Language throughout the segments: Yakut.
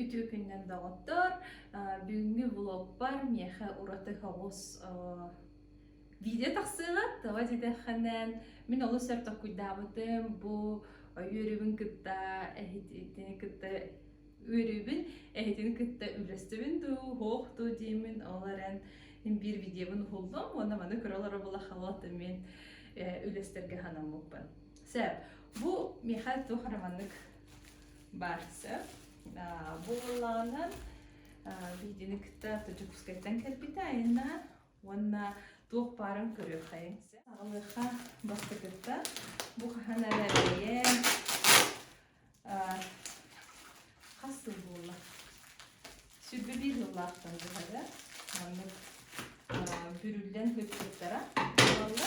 Үтүө күнүнэн доҕоттор! Бүгүҥҥү влогпар миэхэ ураты соҕус видео тахсыаҕыт. Тоҕо диэтэххинэ, мин олус өр толкуйдаабытым. Бу үөрүүбүн кытта эһитини кытта үөрүүбүн эһитини кытта үллэстибин дуу, суох дуу диэмин. Ол эрэн мин биир видеобун уһуллум уонна маны көрө олоро була халаатым мин үллэстэргэ санаммыппын. Сөп. Бу миэхэ туох эрэ маннык баар сөп. Бу буоллаҕынан видеоны кытта Дьокуускайтан кэлбитэ айанна уонна туох баарын көрүөххэйиҥ сөп. Алыха бастакыта бу хаһан эрэ эрэйэн хас сыл буолла? Сүрбэ биир сыллаахтан быһары маннык бүрүллэн көппүттара буолла.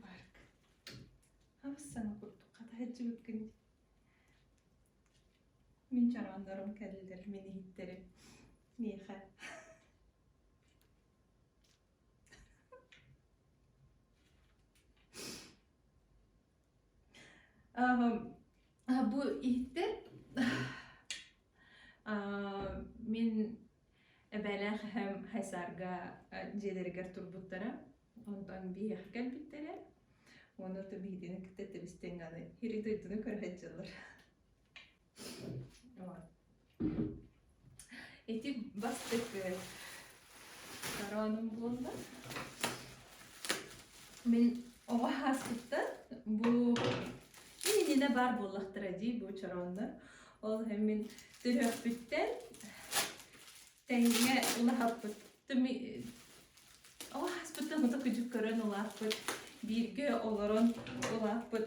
Баарк, хабыс саҥа курдук хата сылдьыбыккын дии. Мин чарааннарым кэллилэр мин иһиттэрим миэхэ Бу иһиттэр мин эбэлээх эһэм Хайсаарга дьиэлэригэр турбуттара. Онтон биһиэхэ кэлбиттэрэ. Уонна то биһигини кытта тэбистиҥ аны ири дойдуну көрө сылдьаллар Ити бастакы хорооном буолла. Мин оҕо ааспыттан бу ининэ баар буоллахтара дии бу чорооннор. Ол иһин мин төрөппүттэн тэҥҥэ улаһаппыт оҕо ааспыттан хата кыдьык көрөн улааппыт, бииргэ олорон улааппыт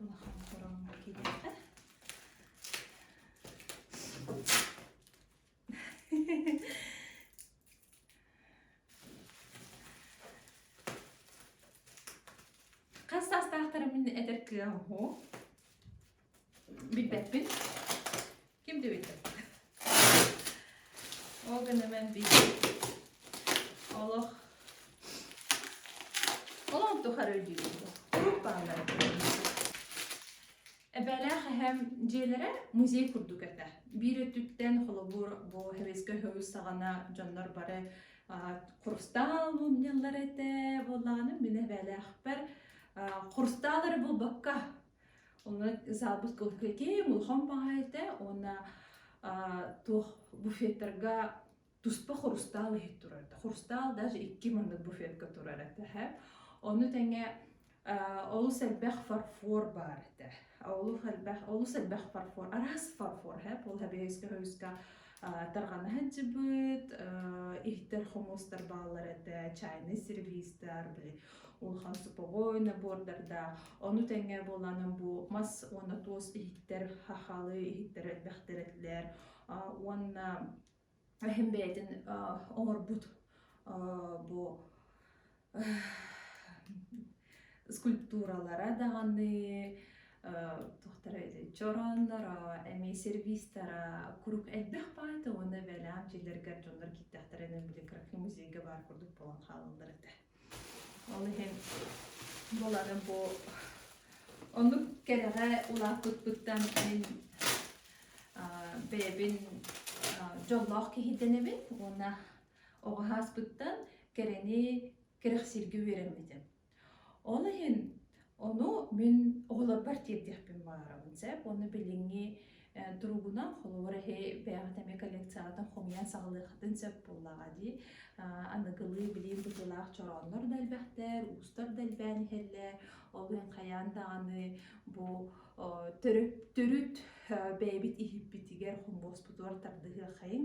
Улахан кураҥҥа кириэхэ. Хас саастаахтарым мин этэр кыам уһу? Билбэппин. Ким дебиттер? Ол гына мэн бийи олох олон тухары диибин. Куруук бааллар. Эбэлээх эһэм дьиэлэрэ музей курдук этэ. Биир өттүттэн холобур бу хевискэ хөвүс саҕана дьоннор бары хурустаал мунньаллар этэ буоллаҕына мин эбэлээхпэр хурустаалары булбакка Онон запуск кем улахан баһайыта уонна туох буфеттарга туспа хрустал иһит турар хрустал даже икки маннык буфетка турар этэ ону тэҥэ олус элбэх фарфор баар этэ олус элбэх олус элбэх фарфор араас фарфор ол тарҕанаһын сыпыт иһтэр хомуустар бааллар этэ чайный сервистар били улахан суповой набордардаах ону тэҥэ буолаанан бу мас уонна туос иһиттэр хахалы иһиттэр элбэхтэр этилэр уонна эһэм бэйэтин оҥорбут бу скульптуралара даҕаны туохтара этэй чороонноро эмиэ сервистара курук элбэх баайта уонна бэлэм дьиэлэргэр дьоннор кииртэхтэрэ эн били график музейга баар курдук буолан хаалаллар этэ ол иһин булары бу оннук кэрэҕэ улааппыппыттан мин бэйэбин дьоллоох киһи дэнэбин уонна Оҕо ааспыттан кэрэни кэрэхсииргэ үөрэммитим. Ол иһин ону мин оҕолорбор тиэрдиэхпин баҕарабын сөп. Ону билиҥҥи туругунан холобур эһи бэйэҕит эмиэ коллекцияҕытын хомуйан саҕалыаххытын сөп буоллаҕа дии. Аныгылыы билим быһыылаах чорооннор да элбэхтэр, уустар да элбээн иһэллэр. Ол иһин хайаан даҕаны бу төрүт төрүт бэйэбит иһиппитигэр хомуоспутугар тардыһыаххайыҥ.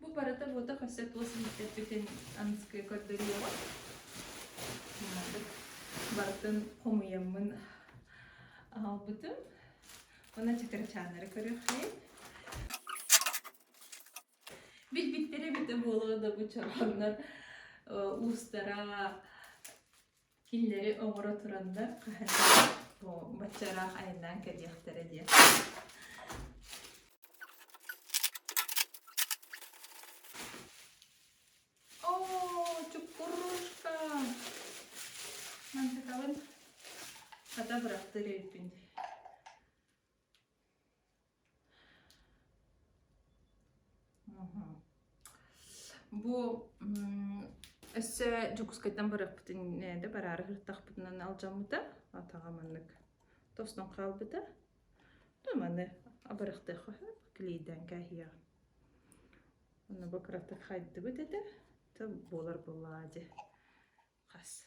Бу барыта-буота көрсө туос иһиттэрбитин аныскыга көрдөрүөҕүм. Барытын хомуйаммын аҕалбытым. Уонна чакырачааннары көрүөхпүн. Билбиттэрэ эбитэ буолуо да бу чорооҥнор уустара Кинилэри оҥоро туран да хаһыаттара бу бачча ыраах айаннаан кэлиэхтэрэ диэн Оо, чуккурушка! Мантыкабын хата бырастыыр өйбүн Бу өссө Дьокуускайтан барыахпытын да бараары сырыттахпытынан алдьаммыта. Атаҕа маннык тостон хаалбыта. Туманы абарахтыахха клейден каһия. Оны бу кыратык хайдыбыт этэ. Тып болар булаады. Хас.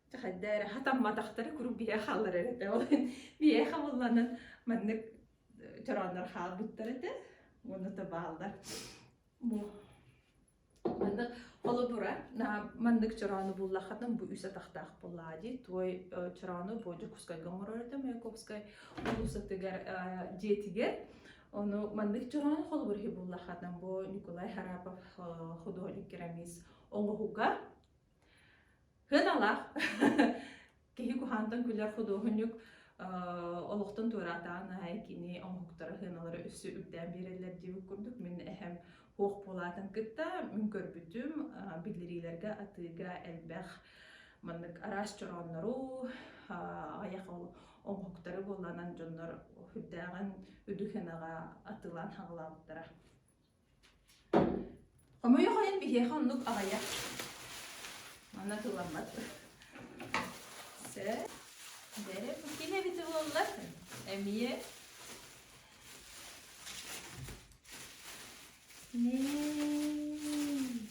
Хайда эрэ хатамматахтары куруук биһэ хааллар этэ. Ол биһэ хабылланан маннык чорооннор хаалбыттар этэ. Уону то бааллар. Бу маннык холобура маннык чороону буллаххатан бу үс атахтаах буллаади туой чороону бу Дьокуускайга оҥорор этэ Маяковскай улуусатыгар дьиэтигэр ону маннык чороону холобур иһи буллаххатан бу Николай Харапов художник керамист оҥоһуга Кыаналаах киһи куһаантан күлэр худуоһунньук олохтон туораатаҕын аайы кини оҥоһуктара сыаналара өссө үрдээн биэрэллэр диэбит курдук мин эһэм суох буолаатын кытта мин көрбүтүм биллэриилэргэ атыыга элбэх маннык араас чорооннору аҕыйах оҥоһуктары буолланан дьоннор үрдээҕин үдү сыанаҕа атыылаан саҕалаабыттара Хомойу хойон биһиэхэ оннук аҕыйах. Манна тылламмат. Сэ. Бэрэ бу ким эбитэ буолла? Эмиэ. Ней.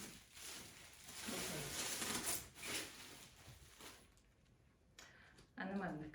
Аны маннык.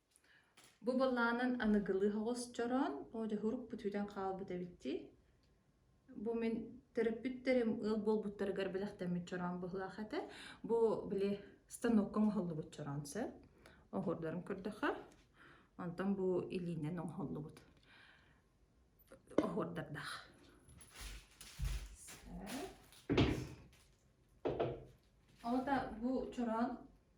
Бу былаанын аныгылыы оҕосчороон одьоһурук бүтүүтэн хаалбыт эбит дии. Бу мин төрөппүттэрим ыал буолбуттарыгар бэлэхтэммит чороон быһыылаах этэ. Бу били станокка оҥоһуллубут чороон сөп. Оһуордарын көрдөххө. Онтон бу илиинэн оҥоһуллубут оһуордардаах. Сөп. Оҕото бу чороон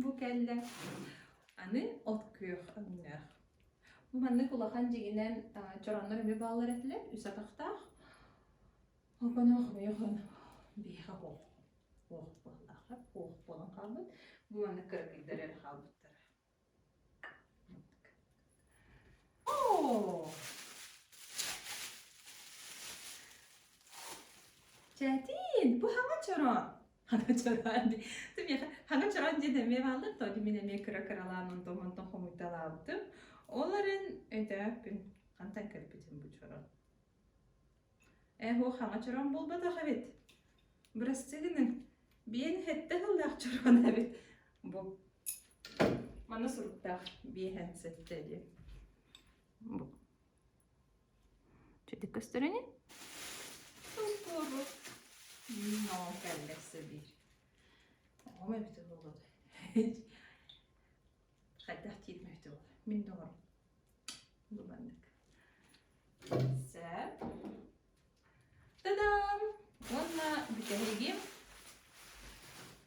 Бу кэллэ. Аны от күөх өҥнөөх. Бу маннык улахан дьиҥинэн чороннор эмиэ бааллар этилэр, үс атахтаах. Опоноох ойохон биһиэхэ оһох оһох буоллаахар оһох буолан хаалбыт. Бу маннык кыракыйдар эрэ хаалбыттара. Чэтин, бу хаҥа чороон. Хана чороон ди. Ты хаҥа чороон ди деме бааллар то мин эме кыра-кыралаан онтон онтон хомуйталаабытым. Оларын өтөөхпүн. Хантай көрбүтүм бу чороон. Ээ-һуо хаҥа чороон буолбатах эбит. Бырастыы гыныҥ, биэн сэттэ сыллаах чороон эбит. Бу манна суруктаах биэһэн сэттэ диэн. Бу. Чэтик көстөрүнү? Ускуору. Ноо кэллэксэ биир. Оҕом эбит ол олоду. Хайдах диир мөтөл? Мин доҕорум. Лубаннык. Сап. Тадам! Уонна бүтэһигим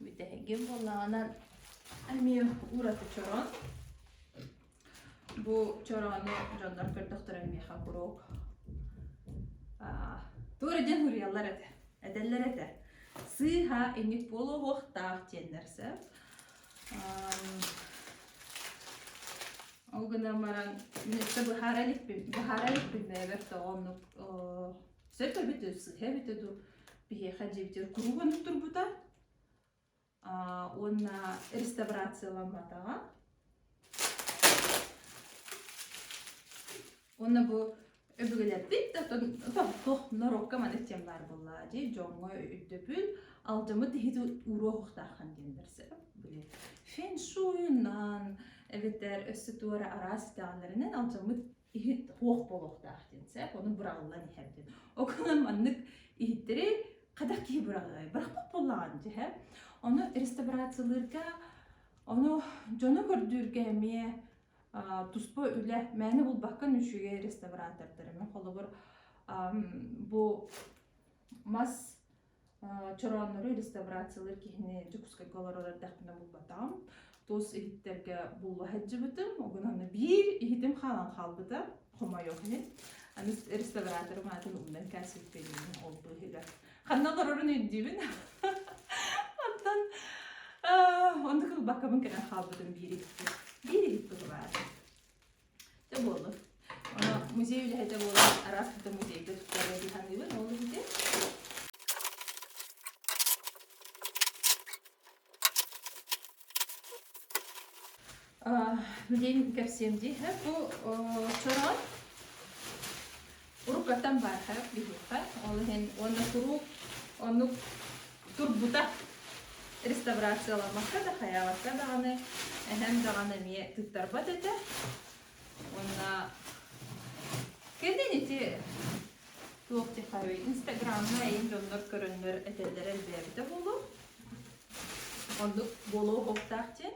бүтэһигим буоллаҕынан эмиэ ураты чорон. Бу чорону дьоннор көрдөхтөрө миэхэ куруук туора диэн уруйаллар этэ. Этэллэр этэ. Сыыһа инник буолуо уохтаах диэннэр сөп. Ол гынан баран мүнөттө быһаара иликпин быһаара иликпин да эбэр тоҕо оннук сөпө битэ сыһа битэ ду биһиэхэ дьибитир куруубанып турбута уонна реставрацияламматаҕа Уонна бу өбүгэлэрбит да тохтох норуокка маны тем баар буолла дии дьоҥҥо өйдөбүл алдьаммыт иһит уруохтааххан диэн берсе били фэншуйунан эбэтэр өссө туора араас даалларынан алдьаммыт иһит уох буолуохтаах диэн сөп ону быраҕыллан иһэр диэн окунан маннык иһиттэри хайдах киһи быраҕыай бырахпат буоллаҕын дьэһэ ону реставрациялыырга ону дьону көрдүүргэ эмиэ туспа үлэ мээнэ булбаккан үчүгэй реставратордар эмэ холобур бу мас чорооннору реставрациялыыр киһини Дьокуускайга олорор эрдэхпинэ булбатаҕым. Тус иһиттэргэ булла сылдьыбытым. Угунаны биир иһитим хаалан хаалбыта, хомойуох иһин. Аны реставраторым аатын умнан кээспиппиниин ол быыһыгар ханна олорорун өйдүүбүн. Оттон оннук ылбаккабын кэлэн хаалбытым биир иһиппит. Биир иһиппит баар. да буоллун музей үлэһитэ буолан араас да музейга туттарыа дии саныыбын ол иһин музейин кэпсиэм дии бу сороҕор Уруукаттан баар харах биһиэхэ ол иһин уонна куруук оннук турбута. Реставрацияламмакка да, хайаабакка даҕаны эһэм даҕаны эмиэ тыттарбат этэ. Уонна кэннин ити туох диэххэ инстаграмҥа эйин дьоннор көрөннөр этэллэрэ элбээбитэ буолуо. Оннук буолуо уохтаах диэн.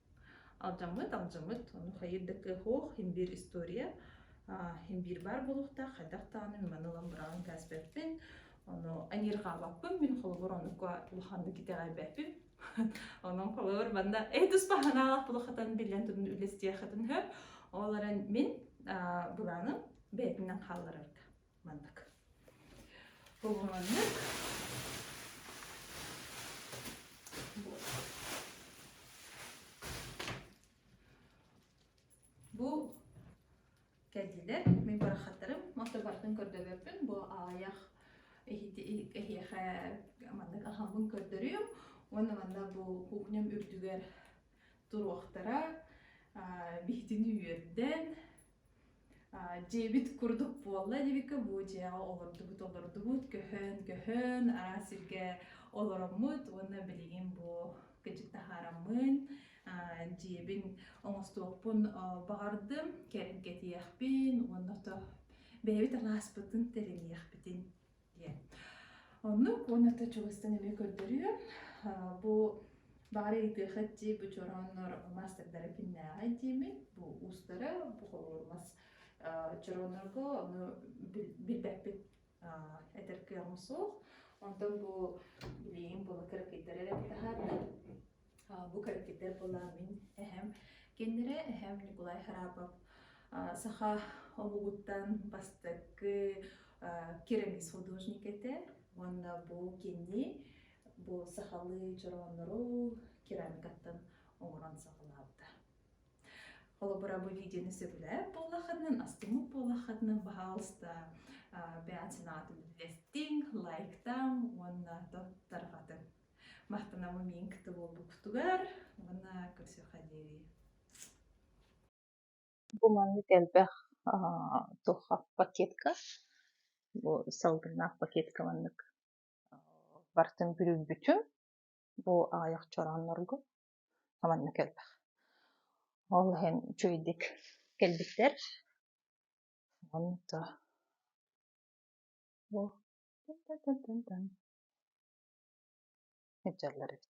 Алдьаммыт, алдьаммыт, ону хайыыр да кыаһуох, иһин биир история, аа, иһин биир баар буолуохтаах, хайдах даҕаны маны ылан быраҕан кээспэппин, ону эниир хаалбаппын, мин холобур оннукка улаханнык итэҕэйбэппин. Онон холобур манна «Эй тус баһанаалах тула хатан биллэн туран үлэстиэх хатын һөп», ол эрэн мин аа, былааным бэйэтинэн хаалларарга маннык уһуннук бу кэлдилэр мин барахаттарым мото бартын көрдөлөрбүн бу аайах эһиэхэ маннык ахамбын көрдөрүөм уонна манна бу кухням үрдүгэр туруохтара биһитини үөрдэн дьиэбит курдук буолла илибиккэ бу дьиэҕэ олордубут олордубут көһөн көһөн араас сиргэ олороммут уонна билигин бу кэчик таһаараммын дьиэбин оҥостуохпун баҕардым кэргэтиэхпин уонна бэйэбит алааспытын тэриниэхпитин Оннук уонна ты чугастан эмиэ көрдөрүөн. Бу баары ыйтыахат дии бу чорооннор мастардара киннээҕэй диэмит бу уустара бу холуур мас чорооннорго ону билбэппит этэр кыаҕым суох онтон бу билиигин була кыракыйдары эрэ таһаарар Бу кэлэктииптэр былаан мин эһэм, кинилэрэ эһэм Николай Харапов саха омугуттан бастакы керамист художник этэ уонна бу кини бу сахалыы чорооннору керамикаттан оҥорон саҕалаабыта. Холобура бу видеоны сөбүлээбит буоллаххытына, астыммыт буоллаххытына, пожалуйста, бэйэн санаатын үллэстиҥ, лайктаҥ уонна тарҕатыҥ. махтанабын миин кыты буолбуккутугар уонна көрсүөххэ диэри бу маннык элбэх туох пакетка бу салгынаах пакетка маннык бартын бүрүйбүтүм бу аҕыйах чорооннорго маннык элбэх ол иһин үчүгэйдик кэлбиттэр онто сылдьаллар эбит